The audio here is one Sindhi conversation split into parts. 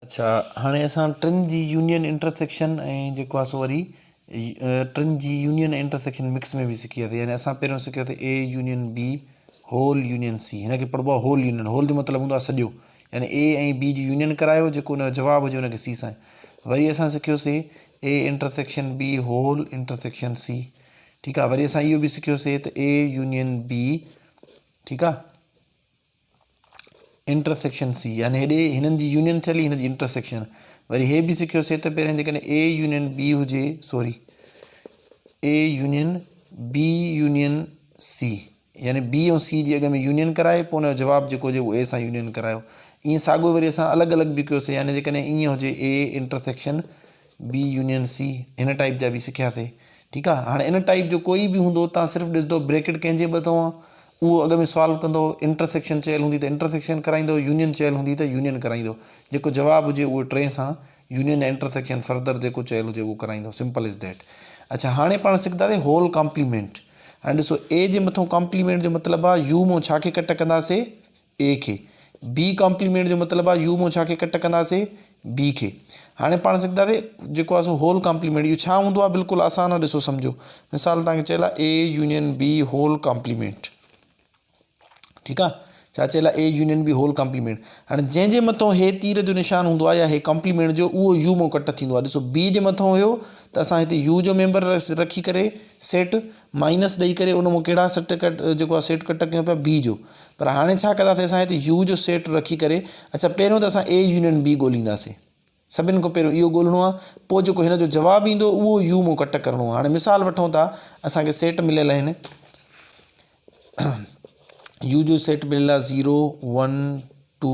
اڇا هاڻي اسان ٽن جي يونين انٽر سيڪشن ۽ جيڪو آهي سو وري ٽن جي يونين ۽ انٽر سيڪشن مڪس ۾ به سکياسين يعني اسان پهريون سکياسين A union B whole union C هن کي پڙهبو آهي هول يونين هول جو مطلب هوندو آهي سڄو يعني اي ۽ بي جي يونين ڪرايو جيڪو ان جو جواب هجي ان کي سي سان وري اسان سکيوسي A intersection B whole intersection C ٺيڪ آهي وري اسان اهو به سکيوسي ته اي يونين بي ٺيڪ آهي انٽر سيڪشن سي يعني هيڏي هنن جي يونين ٿيل هي هن جي انٽر سيڪشن وري هي به سکيو سي ته پهرين جيڪڏهن اي يونين بي هجي sorry A union B union C يعني بي ۽ سي جي اڳ ۾ يونين ڪرائي پوء ان جو جواب جيڪو هجي اهو اي سان يونين ڪرايو ائين ساڳو وري اسان الڳ الڳ به ڪيوسي يعني جيڪڏهن ائين هجي A intersection B union C هن ٽائيپ جا به سکيا ٿي ٺيڪ آ هاڻي ان ٽائيپ جو ڪوئي به هوندو تان صرف ڏسندو بريڪٽ ڪنهن جي ٻه اٿو آ اهو اڳ ۾ سوال ڪندو انٽر سيڪشن چيل هوندي ته انٽر سيڪشن ڪرائيندو يونين چيل هوندي ته يونين ڪرائيندو جيڪو جواب هجي اهو ٽي سان يونين يا انٽر سيڪشن فردر جيڪو چيل هجي اهو ڪرائيندو سمپل از ڊيٽ اڇا هاڻي پاڻ سکنداسي هول ڪامپليمينٽ هاڻي ڏسو اي جي مٿو ڪامپليمينٽ جو مطلب آ يو مون ڇا کي ڪٽ ڪنداسي اي کي بي ڪامپليمينٽ جو مطلب آ يو مون ڇا کي ڪٽ ڪنداسي بي کي هاڻي پاڻ سکنداسي جيڪو آهي سو هول ڪامپليمينٽ اهو ڇا هوندو آهي بلڪل آسان آهي ڏسو سمجهو مثال تان کي چيل آهي A union B whole complement ٺيڪ آهي ڇا چيل آهي A union B whole complement هاڻي جنهن جي مٿو هي تير جو نشان هوندو آهي يا هي ڪامپليمينٽ جو اهو يو مون ڪٽ ٿيندو آهي ڏسو بي جي مٿو هيو ته اسان هتي يو جو ميمبر رکي ڪري سيٽ مائنس ڏئي ڪري ان مان ڪهڙا سٽ ڪٽ جيڪو آهي سيٽ ڪٽ ڪيون پيا بي جو پر هاڻي ڇا ڪنداسين اسان هتي يو جو سيٽ رکي ڪري اڇا پهريون ته اسان اي يونين بي ڳولهينداسين سڀني کان پهريون اهو ڳولهڻو آهي پوء جيڪو هن جو جواب ايندو اهو يو مون ڪٽ ڪرڻو هاڻي مثال وٺون ٿا اسان کي سيٽ مليل آهن يو جو سيٽ مليل آهي زيرو ون ٽو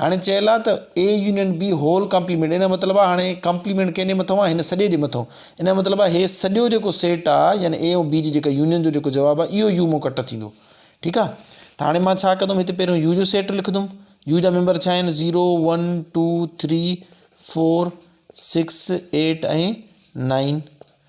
هاڻي چيل آ ته اي يونين بي هول ڪمپليمينٽ ان جو مطلب آ هاڻي ڪمپليمينٽ ڪنهن جي مٿئون آ هن سڄي جي مٿئون ان جو مطلب آ هي سڄو جيڪو سيٽ آ يعني اي ۽ بي جي جيڪا يونين جو جيڪو جواب آ اهو يو مون ڪٽ ٿيندو ٺيڪ آ ته هاڻي مان ڇا ڪندم هتي پهريون يو جو سيٽ لکندم يو جا ميمبر ڇا آهن zero one two three four six eight ۽ nine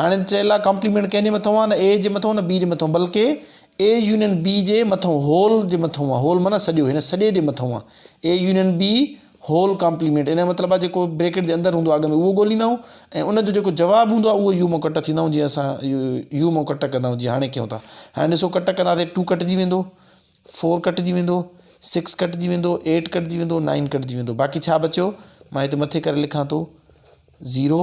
هاڻي چيلا ڪامپليمينٽ ڪنهن جي مٿون آ نه اي جي مٿون نه بي جي مٿون بلڪ اي يونين بي جي مٿون هول جي مٿون آ هول معنيٰ سڄو هن سڄي جي مٿون آ A union B whole complement ان جو مطلب آ جيڪو بريڪيٽ جي اندر هوندو آ اڳ ۾ اهو ڳوليندا آهيون ۽ ان جو جيڪو جواب هوندو آ اهو يو مون ڪٽ ٿيندا آهيون جيئن اسان يو مون ڪٽ ڪندا آهيون جيئن هاڻي ڪيون ٿا هاڻي ڏسو ڪٽ ڪنداسي ٽو ڪٽجي ويندو فور ڪٽجي ويندو سڪس ڪٽجي ويندو ايٽ ڪٽجي ويندو نائن ڪٽجي ويندو باقي ڇا بچيو مان هتي مٿي ڪري لکان ٿو زيرو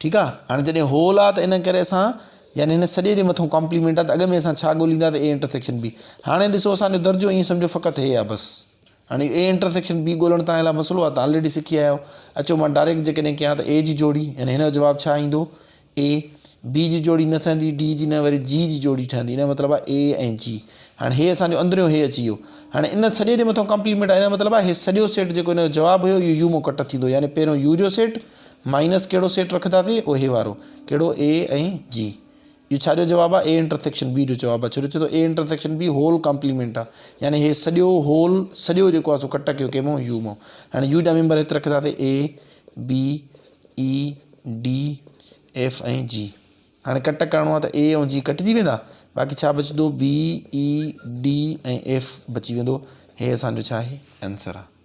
ٺيڪ آ هاڻي جڏهن هول آ ته ان ڪري اسان يعني هن سڄي جي مٿون ڪامپليمينٽ آ ته اڳ ۾ اسان ڇا ڳوليندا ته اي انٽرسيڪشن بي هاڻي ڏسو اسان جو درجو ائين سمجهو فقط هي آ بس هاڻي اي انٽرسيڪشن بي ڳولڻ تان لاء مسئلو آ تان آلريڊي سکي آيا آهيو اچو مان ڊائريڪٽ جيڪڏهن ڪيان ته اي جي جوڙي يعني هن جو جواب ڇا ايندو اي بي جي جوڙي نه ٺهندي ڊي جي نه وري جي جي جوڙي ٺهندي ان جو مطلب آ اي ۽ جي هاڻي هي اسان جو اندريون هي اچي ويو هاڻي ان سڄي جي مٿون ڪامپليمينٽ آ ان جو مطلب آ هي سڄو سيٽ جيڪو ان جو جواب هيو اهو يو مون ڪٽ ٿيندو يعني پهريون يو جو سيٽ مائنس ڪهڙو سيٽ رکنداسين اهي وارو ڪهڙو اي ۽ جي اهو ڇا جو جواب آهي اي انٽرسيڪشن بي جو جواب آهي ڇو جو چئي ٿو اي انٽرسيڪشن بي هول ڪامپليمينٽ آهي يعني هي سڄو هول سڄو جيڪو آهي سو ڪٽ ڪيو ڪنهن مون يو مون هاڻي يو جا ميمبر هت رکنداسين A B A D F ۽ G هاڻي ڪٽ ڪرڻو آهي ته اي ۽ جي ڪٽجي ويندا باقي ڇا بچندو بي اي ڊي ۽ ايف بچي ويندو هي اسانجو ڇا آهي آنسر آهي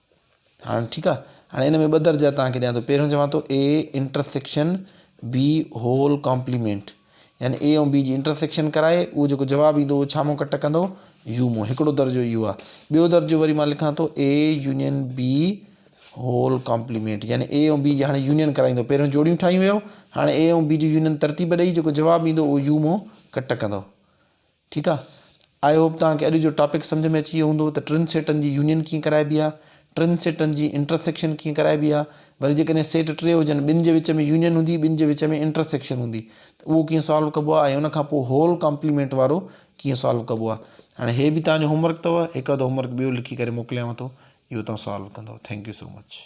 هاڻ ٺيڪ آهي هاڻي ان ۾ ٻه درجا توهان کي ڏيان ٿو پهريون چوان ٿو A intersection B whole complement يعني A ۽ B جي انٽرسيڪشن ڪرائي اهو جيڪو جواب ايندو اهو ڇا مون ڪٽ ڪندو يو مون هڪڙو درجو اهو آهي ٻيو درجو وري مان لکان ٿو A union B whole complement يعني A ۽ B جي هاڻي يونين ڪرائيندو پهريون جوڙيون ٺاهيون ويو هاڻي A ۽ B جي يونين ترتيب ڏئي جيڪو جواب ايندو اهو يو مون ڪٽ ڪندو ٺيڪ آ آئي هوپ توهان کي اڄ جو ٽاپڪ سمجهه ۾ اچي ويو هوندو ته ٽن سيٽن جي يونين ڪيئن ڪرائبي آ ٽن سيٽن جي انٽرسيڪشن ڪيئن ڪرائبي آ وري جيڪڏهن سيٽ ٽي هجن ٻن جي وچ ۾ يونين هوندي ٻن جي وچ ۾ انٽرسيڪشن هوندي ته اهو ڪيئن سالو ڪبو آ ۽ ان کان پوء هول ڪامپليمينٽ وارو ڪيئن سالو ڪبو آ هاڻي هي به توهان جو هوم ورڪ اٿو هڪ اڌ هوم ورڪ ٻيو لکي ڪري موڪليانو ٿو اهو توهان سالو ڪندو ٿينڪ يو سو مچ.